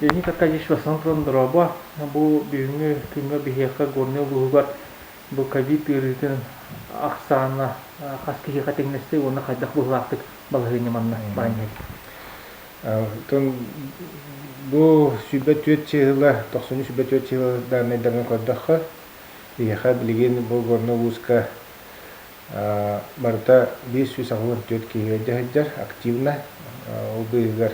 Леника Количество Сан Доробо бу бүгүҥҥү күҥҥэ биһиэхэ Горнай улууһугар бу ковид ыарыытын ахсаана хас киһиэхэ тэҥнэстэ уонна хайдах быһыылаахтык балаһыанньа манна баран иһэрий? Бу сүүрбэ түөрт чыыһыла, тохсуннуу сүүрбэ түөрт чыыһыла дааннайдарын көрдөххө, биһиэхэ билигин бу Горнай улууска барыта биир сүүс аҕыс уон түөрт киһи өйдөһө сылдьар активно. Ол быыһыгар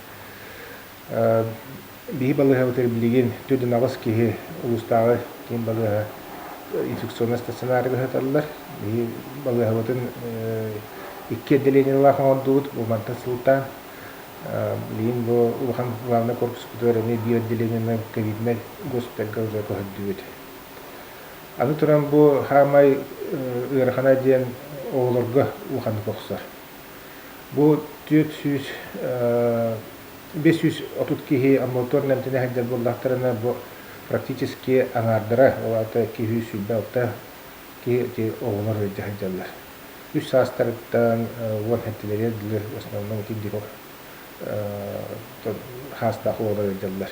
Биһи балыыһабытыгар билигин төрдүн аҕыс киһи улуустааҕы киин балыыһа инфекционнай стационарыга сыталлар. Биһи балыыһабытын икки отделениелаах оҥордубут, бу мантан сылтаан. Билигин бу улахан главнай корпуспутугар эмиэ биир отделениенан ковиднай госпитальга уже көһөрдүбүт. Аны туран бу хаамай ыарахан диэн оҕолорго улаханнык охсор. Бу түөрт сүүс биэс сүүс отут киһи амбулаториум эмтэнэ сылдьар буоллахтарына бу практически аҥаардара ол аата икки сүүс сүүрбэ алта киһи оҕолор ыалдьа сылдьаллар. Үс саастарыттан уон эттилэри өлдүлэр, в основном ити диво хаастаах оҕолор ыалдьаллар.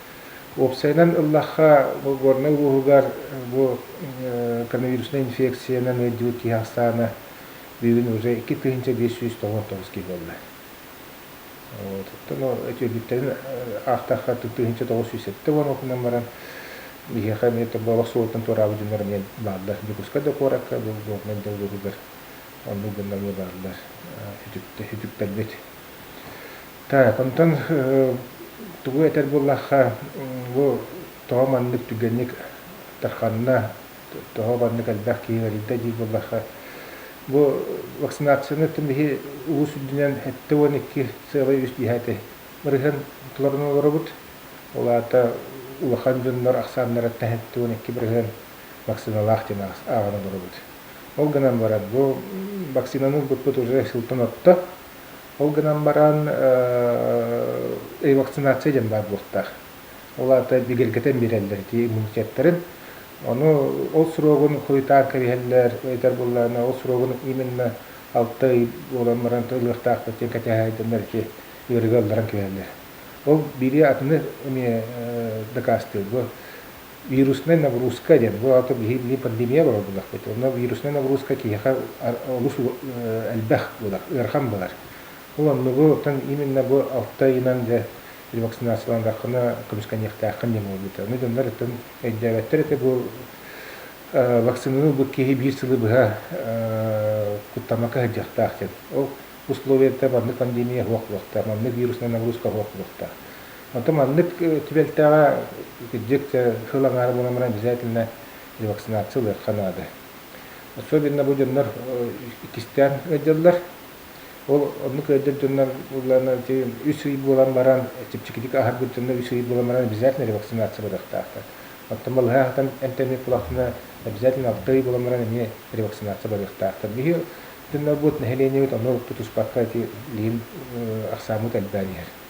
Уопсайынан ыллахха, бу горнай улууһугар бу коронавируснай инфекциянан ыалдьыбыт киһи ахсаана бүгүн уже икки тыһыынча биэс сүүс тоҕус отуос киһи буолла. Оттон өтүөлүктэрин аахтахха тыһыынча тоҕус сүүс сэттэ уон уонунан баран биһиэхэ эмиэ тобоҕох суолтан туораабыт дьоннор эмиэ бааллар. Дьокуускай да куоракка бу горнай да улууһугар оннук дьоннор эмиэ бааллар үтүктэрбит. Так, онтон тугу этэр буоллахха, бу тоҕо маннык түргэнник тарханна, тоҕо маннык элбэх киһи өлөрдө дии буоллахха, бу вакцинацияны тимиһи улуус үрдүнэн эттэ уон икки сыала үс дьиһэти мырыһын толорун олоробут. Ол аата улахан дьоннор ахсааннарыттан эттэ уон икки мырыһын вакциналаах диэн ааҕан олоробут. Ол гынан баран, бу вакцинаны ылбыппыт уже сылтан орто, Ол гынан баран ревакцинация диэн баар буолтаах. Ол аата бигэргэтэн биэрэллэр ити иммунитеттарын. Ону ол сроҕун хойутаан кэбиһэллэр ыйытар буоллаҕына, ол сроҕун именно алта ый буолан баран ылыахтаахпыт диэн кэтэһээйдэннэр ити ыарыыга ылларан кэбиһэллэр. Ол биирии атыны эмиэ дакаастыыр. Бу вируснай нагрузка диэн бу аата биһиги пандемия буолар буоллахпыт онно вируснай нагрузка киһиэхэ олус элбэх буолар ыарахан буолар ол оннугу оттон именно бу алта ыйынан дьэ ревакцинациялаандаххына көмүскэниэхтээххин диэн буолбута ону дьоннор оттон өйдөөбөттөр этэ бу вакцинаны ылбыт киһи биир сылы быһа куттамакка сылдьыахтаах диэн ол условиета маннык пандемия суох буолуохтаах маннык вируснай нагрузка суох буолуохтаах Оттон маннык түбэлтэҕэ кырдьык сыл аҥаара буолан баран обязательно вакцинация ылыахха наада. Особенно бу дьоннор иккистээн ыалдьаллар. Ол оннук ыалдьар дьоннор булларына үс ый буолан баран, чэпчэкитик аһарбыт дьоннор үс ый буолан баран обязательно вакцинация барыахтаахтар. Оттон балыһа хатан эмтэнии кулахына обязательно алта ый буолан баран эмиэ ревакцинация барыахтаахтар. Биһи дьоннорбут нэһилиэнньэбит ону тутуспакка эти лиин ахсааммыт элбээн иһэр.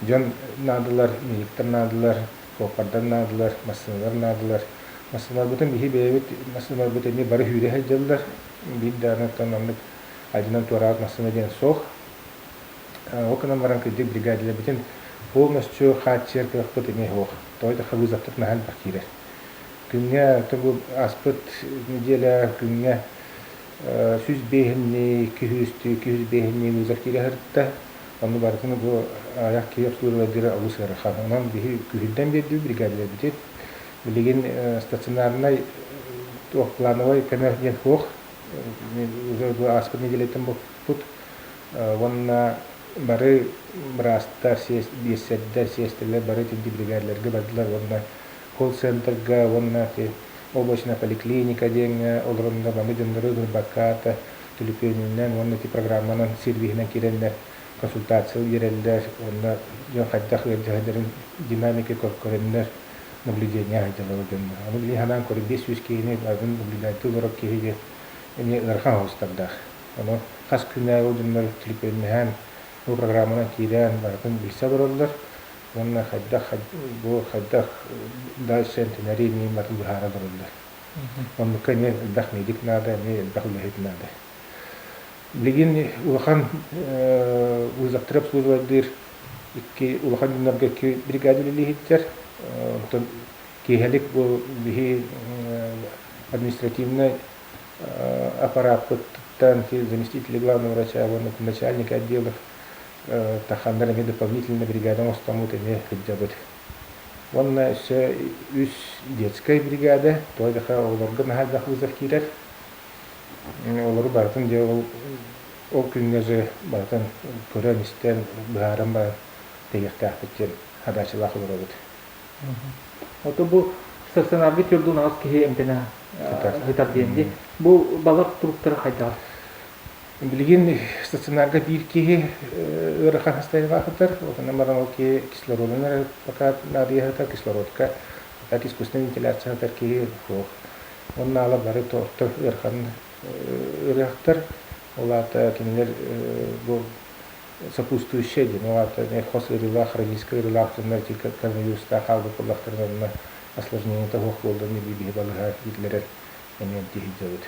дьон наадылар, миниктэр наадылар, куоппардар наадылар, массыыналар наадылар. Массыыналарбытын биһи бэйэбит массыыналарбыт эмиэ бары сүүрэ сылдьаллар. Биир даҕаны оттон оннук адьынан туораабыт массыына диэн суох. Ол гынан баран кырдьык бригадаларбытын полностью хааччыйар кыахпыт эмиэ суох. Тоҕо да кабызовтар наһаа элбэх киирэр. Күҥҥэ тобу аспыт нэдиэлэ күҥҥэ сүүс биэһиннии, iki yüz, iki yüz биэһиннии виза киирэ сырытта. Онно барытын бу аайах киһи обслуживать диэри олус ыарахан. Онон биһи күүһүрдэн биэрдиибит биригээдэлэрбитин. Билигин стационарнай плановой көмө диэн суох. Уже бу ааспыт неделятын буппут уонна бары быраастар, биэссэрдэр, сиэстэлэр бары итинник биригээдэлэргэ бардылар уонна колл-центрга уонна ити облачная поликлиника диэҥҥэ олорорго маны дьоннору ылбакка, төлөпүөнүнэн уонна ити программанан, сервиһинэн киирэннэр консультация биэрэллэр уонна дьон хайдах ыалдьыһалларын динамика көрдөннөр, наблюдение сылдьаллар дьоннор. Ону билии санаан көрү биэс сүүс киһини атын наблюдатель олорор киһи диэн эмиэ ыарахан оһуостардаах. Ону хас күннээҕи ол дьоннор төлөпүөннэһэн, бу программанан киирэн барытын билсэ олороллор, уонна хайдах бу хайдах дальше энтенэрий ньыматын быһаара барыллар. Оннукка эмиэ элбэх медик наада, эмиэ элбэх үлэһит наада. Билигин улахан вузлактар обслуживайдыыр икки улахан дьоннорго икки бригада үлэлиһиттэр. Онтон киэһэлик бу биһи административнай аппарааппыттан заместителя главного врача уонна начальника отделов Таххандар эмиэ дополнительно бригада оҥостоммут эмиэ кырдьабыт. Уонна өссө үс детскай бригада, туох да оҕолорго наһаа элбэх вызов киирэр. Олору барытын дьэ ол ол күҥҥэ дьэ барытын көрөн-истэн, быһааран баран тэһиэхтээхпит диэн хадаачалаах олоробут. Ото бу стационарга төрдүн аҕыс киһи эмтэнэ сытар диэн бу балар туруктара хайдаҕый? Билигин стационарга биир киһи ыарахан состояниеҕа аһытар, ол гынан баран ол киһи кислородунан эрэ пока наадыйа аһатар, кислородка, так искусственная вентиляция аһатар киһи суох. Онно ала бары орто ыарахан ыарыһахтар, ол аата кинилэр бу сопутствующие диэн, ол аата хос ыарыылаах, хроническай ыарыылаах дьоннор ити коронавирустаах хаалбыт буоллахтарына онно осложнениета суох буоллар биһи балыһа иитилэрэр эмиэ дьиһидьэбит.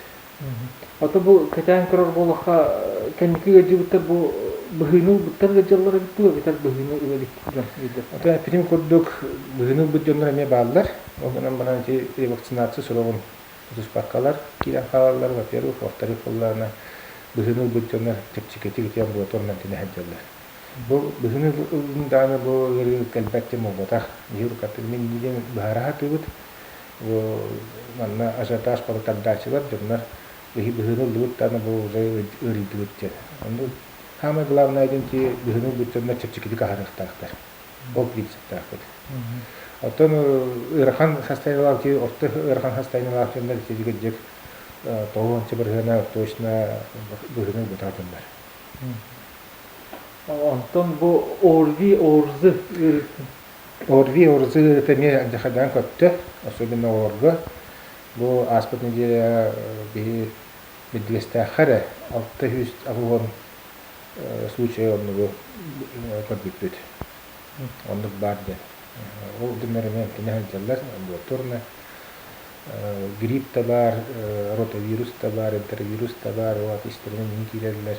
Ото бу кэтээн көрөр буолахха, кэнники ыалдьыбыттар бу быһыыны ылбыттар да дьаллар эбит дуо, эбэтэр быһыыны ылабыт дьон өйдөр. Ото эппитим курдук, быһыыны ылбыт дьоннор эмиэ бааллар. Ол гынан баран ити вакцинация сроҕун тутуспаккалар киирэн хаалаллар, во-первых, во-вторых буоллаҕына быһыыны ылбыт дьоннор чэпчэкитик ити омугута оннун тэнэ сылдьаллар. Бу быһыыны ылыым даҕаны бу ыарыы кэлбэт диэн буолбатах. Быйыл хатык мин диэн быһаара сатыыбыт. Манна ажиотаж балакардааччылар дьоннор быһыыны ыллыбыт даҕаны бу уже ыарыйдыбыт диэн. Саамай главное идентии быһыыны ылбыт дьоннор чэпчэкитик аһарыахтаахтар. Ол принциптаахпыт. Оттон ыарахан состояниелаах дии, орто ыарахан состояниелаах дьоннор итиэдигирдик тоҕу ончу барыһыана точно быһыыны ылбатаатыннар. Онтон бу оорзи оорзы Орви Орзы это эмиэ дьахайдаан көттө, особенно оҕолорго. Бу ааспыт неделя биһи Бирдигэстээххэ эрэ алта сүүс алуон случай оннугу көрбүппүт. Оннук баар диэн. Ол гыннар эмиэ эмтэнэ сылдьаллар. Амбулаторная. Грипп да баар, ротавирус да баар, энтеровирус да баар, ол истэринэн иһин киирэллэр.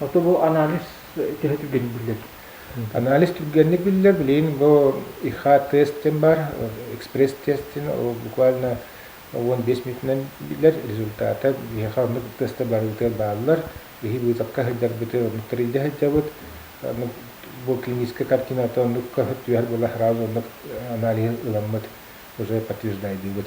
Ото бу анализ төһө түргэнник биллэр? Анализ түргэнник биллэр. Билин бу ИХ-тест диэн бар, экспресс-тест диэн, ол буквально уон бес минутынан биллэр результата. Биһиэхэ оннук теста барыбытыгар бааллар. Биһи быытакка сылдьарбыты оннук тэрийдэ сылдьабыт. Оннук бу клиническая картината оннукка түһэр була сразу оннук анализ ыламмыт уже подтверждайдыыбыт.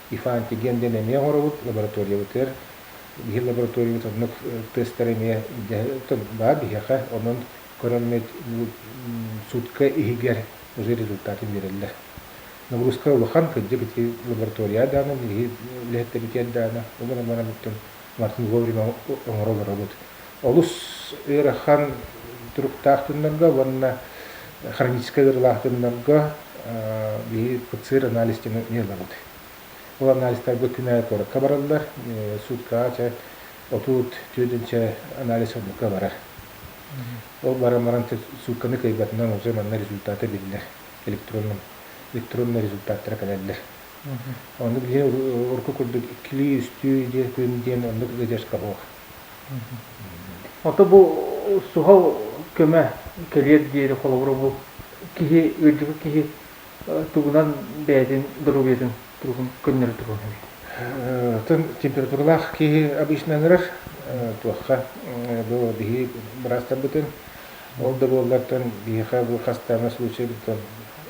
Ифантиген диэн эмиэ оҥоробут лабораториябытыгар. Биһир лабораториябыт оннук тестары эмиэ баар биһиэхэ, онон көрөммүт сутка иһигэр уже результаты биэрэллэр. Нагрузка улахан, кырдьык ити лаборатория даана, биһиги үлэһиттэрбитигэр даана, уман-уман абыттан вовремя оҥоро олоробут. олус ыарахан туруктаах тыннарга уонна хроническай ыарылаах тыннарга биһиги ПЦР анализ диэн ыалабыт. Ол анализтарга күнэ куоракка бараллар, суткаҕа чэ отут түөдүнчэ анализ оннукка барар. Ол баран баран сутканы кыайбатынан уже манна результаты биллэр электронный электронный результаттара кэлэллэр. Ону билиэн урукку курдук иккилии үстүү диэн күн диэн оннук ыдьарка суох. Ото бу суһал көмө кэлиэр диэри холобура бу киһи, ыалдьыбыт киһи тугунан бэйэтин доруобуйатын туругун көннөрө туруон сөбүй? Атын температуралаах киһи обычно ыҥырар туохха бу биһи быраастарбытын ол да буоллартан биһиэхэ бу хастаана случайбытын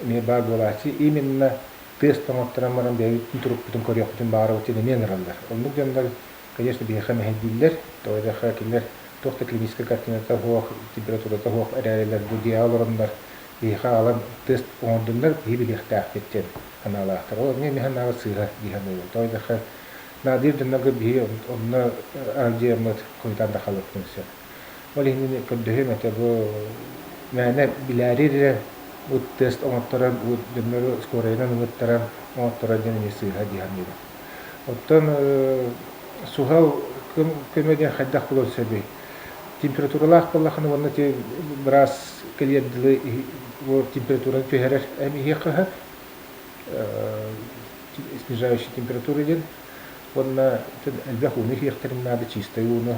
эмиэ баар буолааччы именно тыас тоҥоттонон баран бэйэбитин турукпутун көрүөхпүтүн баҕарабыт диэн эмиэ ыҥыраллар. Оннук дьоннор Конечно, биһиэхэ мэһэйдииллэр, тоойдохо кинилэр туох да клиническай картината суох, температурата суох эрээрилэр бу дьиэҕэ олороннор биһиэхэ аҕалан тест оҥордуннар, киһи билиэхтээхпит диэн санаалаахтар. Ол эмиэ эмиэ санааҕа сыыһа дии саныыбын. Тоойдохо Надежданнарга биһиги онно ардьыаммыт хойутаан да хаалыахпытын сөп. Ол иһин көрдөһүөм этэ бу мээнэ билээри бу тест оҥотторор бу дьоннору скорайынан ылыттаран оҥотторор диэн эмиэ сыыһа дии саныыбын. Оттон суһал көмө диэн хайдах булуон сөбүй? Температуралаах буоллаххына уонна быраас кэлиэр дылы температураны түһэрэр эм иһиэхэ снижающая температура диэн уонна элбэх ууну иһиэхтэрин наада чистай ууну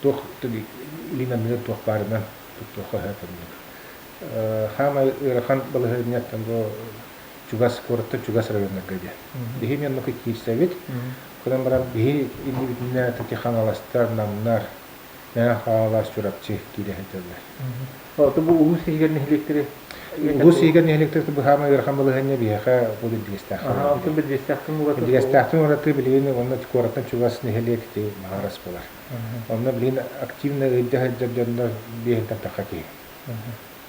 туох линиянныгар туох баарынан туттуохха сөп курдук. Хаамай ыарахан балаһыанньаттан бу чугас куораттан чугас районнарга диэн. Биһи Мемука киирсэбит. Кынан баран биһи иннибитинэ Тати Хаҥаластар, Намнар, Мэҥэ Хаҥалас, Чурапчы киирэ сыталлар. Ото бу улуус иһигэр нэһилиэктэри улуус иһигэр нэһилиэктэртэ быһаама ыарахан балаһыанньа биһиэхэ бу Биргиэстээх. Аха, онтон Биргиэстээхтэн ураты. Биргиэстээхтэн ураты билигин уонна куораттан чугас нэһилиэк ити Маҕарас буолар. Онно билигин активно ыалдьа сылдьар дьоннор биэһинтэн тахха киһи.